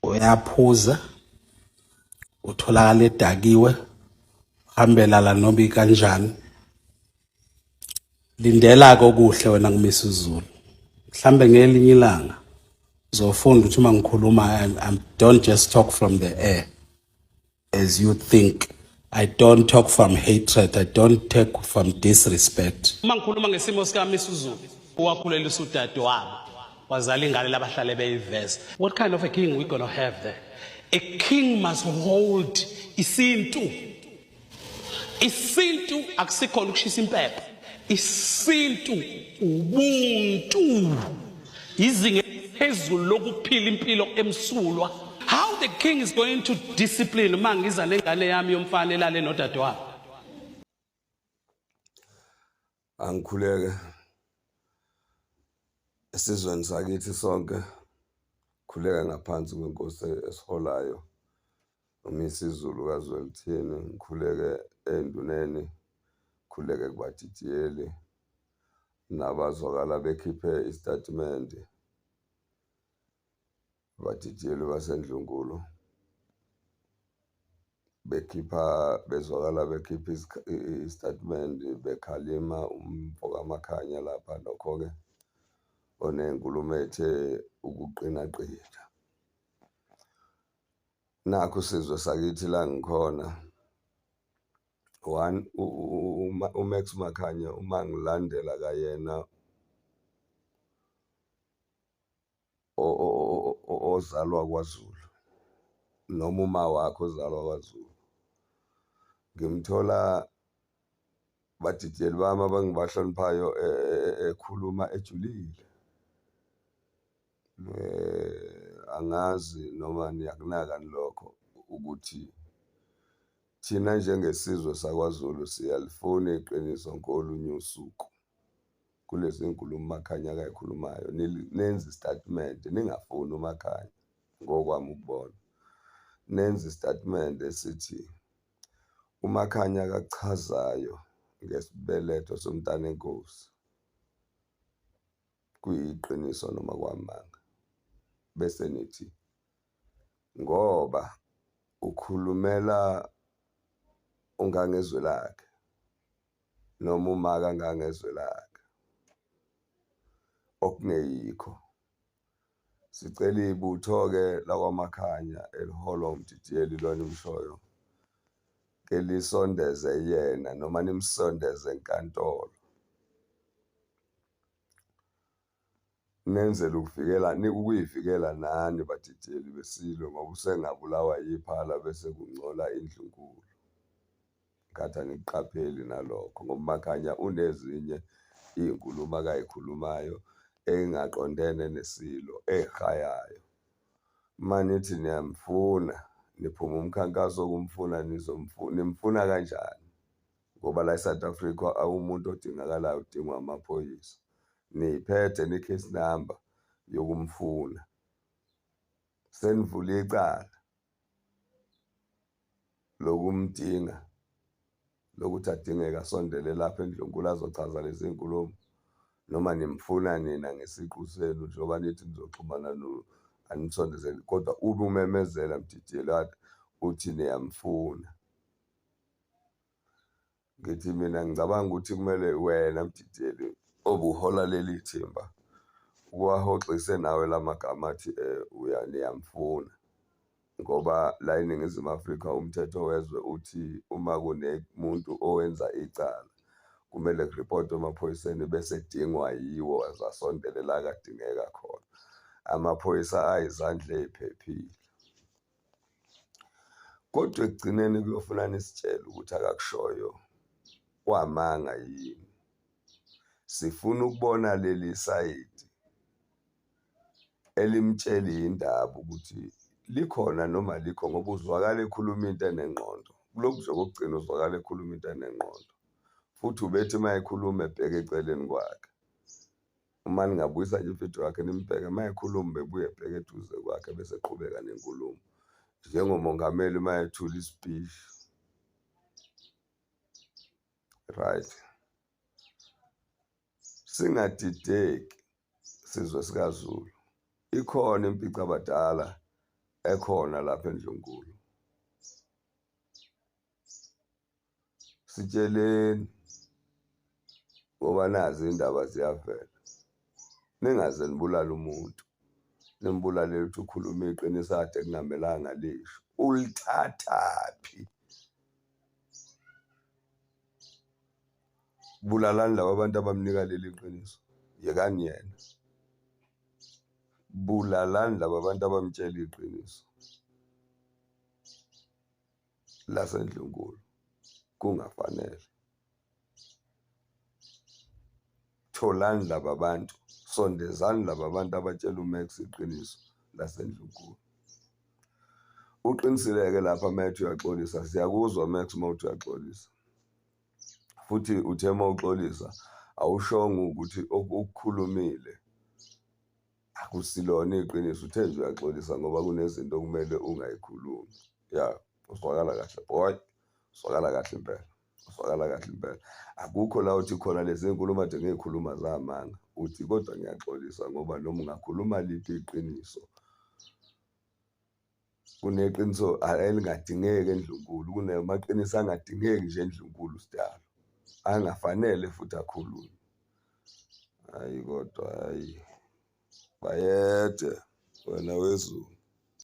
uyaphuza utholakala edakiwe hambela la nobi kanjani lindela ke okuhle wena ngumisa uzulu mhlambe ngelinye ilanga uzofunda ukuthi uma ngikhuluma I don't just talk from the air as you think I don't talk from hatred I don't talk from disrespect uma ngikhuluma ngesimo sikami isizulu owakhuleliswa udade wabo wazala ingane labahlale beyiveza what kind of a king we gonna have there a king must hold isintu isintu akusikhona ukushisa impepho isintu ubuntu izinga phezulu lokuphila impilo emsulwa how the king is going to discipline uma ngiza nengane yami yomfana elale nodadewabo angikhuleke esizweni sakithi sonke khuleka ngaphansi kwenkosi esiholayo UMisizulu kaZwelithini ngikhuleke enduneni, ngikhuleke kubadidiyeli nabazwakala bekhiphe isitatimende abadidiyeli basendlunkulu bekhipha bezwakala bekhipha isitatimende bekhalima umfo kamakhanya lapha nokho-ke onenkulumo ethe ukuqinaqina Nakhu sizwe sakithi la ngikhona one uMax Makhanya uma ngilandela kayena ozalwa kwaZulu noma uma wakhe ozalwa kwaZulu ngimthola badidiyeli bami abangibahloniphayo e, e, e, ekhuluma ejulile Angazi noma niyakunaka yini lokho ukuthi thina njengesizwe sakwaZulu siyalifuna iqiniso ngolunye usuku, kulezi nkulumo uMakhanya akayikhulumayo nenze isitatimende ningafuni uMakhanya ngokwami ukubona. Nenze isitatimende esithi uMakhanya akakuchazayo ngesibeletho somntana enkosi. kuyiqiniso noma kwamanga bese nithi ngoba ukhulumela ungangezwe lakhe noma umaka ngangezwe lakhe okungeyikho sicela ibutho-ke lakwamakhanya eliholwa umdidiyeli lona imshoyo ke lisondeze yena noma nimsondeze enkantolo Nenzela ukuvikela ukuyivikela nani badidiyeli beSilo ngoba usengabulawa yiphala bese kungcola indlunkulu. Kade angikuqapheli nalokho ngoba uMakhanya unezinye iy'nkulumo akayikhulumayo ey'ngaqondene neSilo ey'shayayo. Uma nithi niyamfuna niphuma umkhankaso wokumfuna nimfuna kanjani? ngoba la eSouth Africa awumuntu odingakalayo udingwa amaphoyisa niyiphethe ne-case number yokumfuna senivule icala lokumdinga lokuthi adingeka sondele lapha endlunkulu azochaza lezi nkulumo noma nimfuna nina ngesiqu senu njengoba nithi nizoxhumana anisondezeli kodwa ube umemezela mdidiyelwana uthi niyamfuna ngithi mina ngicabanga ukuthi kumele wena mdidiyeli obuhola leli thimba uwahoxise nawe la magama athi um uya niyamfuna ngoba la eningizimu afrika umthetho wezwe uthi uma kunemuntu owenza icala kumele kuripotwe emaphoyiseni bese edingwa yiwo azasondelela akadingeka khona amaphoyisa ayizandla ey'phephile kodwa ekugcineni kuyofuna nisitshele ukuthi akakushoyo kwamanga yini sifuna ukubona leli sayidi elimtsheli indaba ukuthi likhona noma likho ngoba uzwakala ekhuluma into enengqondo kulokhu nje kokugcina uzwakala ekhuluma into enengqondo futhi ubethi uma ekhuluma ebheke eceleni kwakhe Uma ningabuyisa nje imfihlo yakhe nimbheke uma ekhuluma bebuye ebheke eduze kwakhe bese eqhubeka nenkulumo njengomongameli uma ethula ispeech right singadideki sizwe sikaZulu ikhona impica abadala ekhona lapha endlunkulu sitsheleni ngoba nazi indaba ziyavela ningaze nibulale umuntu nimbulale ukuthi ukhuluma iqiniso ade kungamelanga lisho ulithathaphi bulalani laba bantu abamnika leli qiniso yekani yena bulalani laba bantu abamtshela iqiniso lasendlunkulu kungafanele tholani laba bantu sondezani laba bantu abatshela umax iqiniso lasendlunkulu uqinisileke lapha uma ethi uyaxolisa siyakuzwa max uma uthi uyaxolisa futhi uthe uma uxolisa awushongo ukuthi okukhulumile akusilona iqiniso uthe nje uyaxolisa ngoba kunezinto okumele ungayikhulumi ya uswakala kahle boy uswakala kahle impela uswakala kahle impela akukho la uthi khona lezi nkulumo ade ngiyikhuluma zamanga uthi kodwa ngiyaxolisa ngoba noma ungakhuluma liphi iqiniso kuneqiniso elingadingeki endlunkulu kunamaqiniso angadingeki nje endlunkulu sidalo angafanele futhi akhulunywe hayi kodwa hayi bayede wena wezulu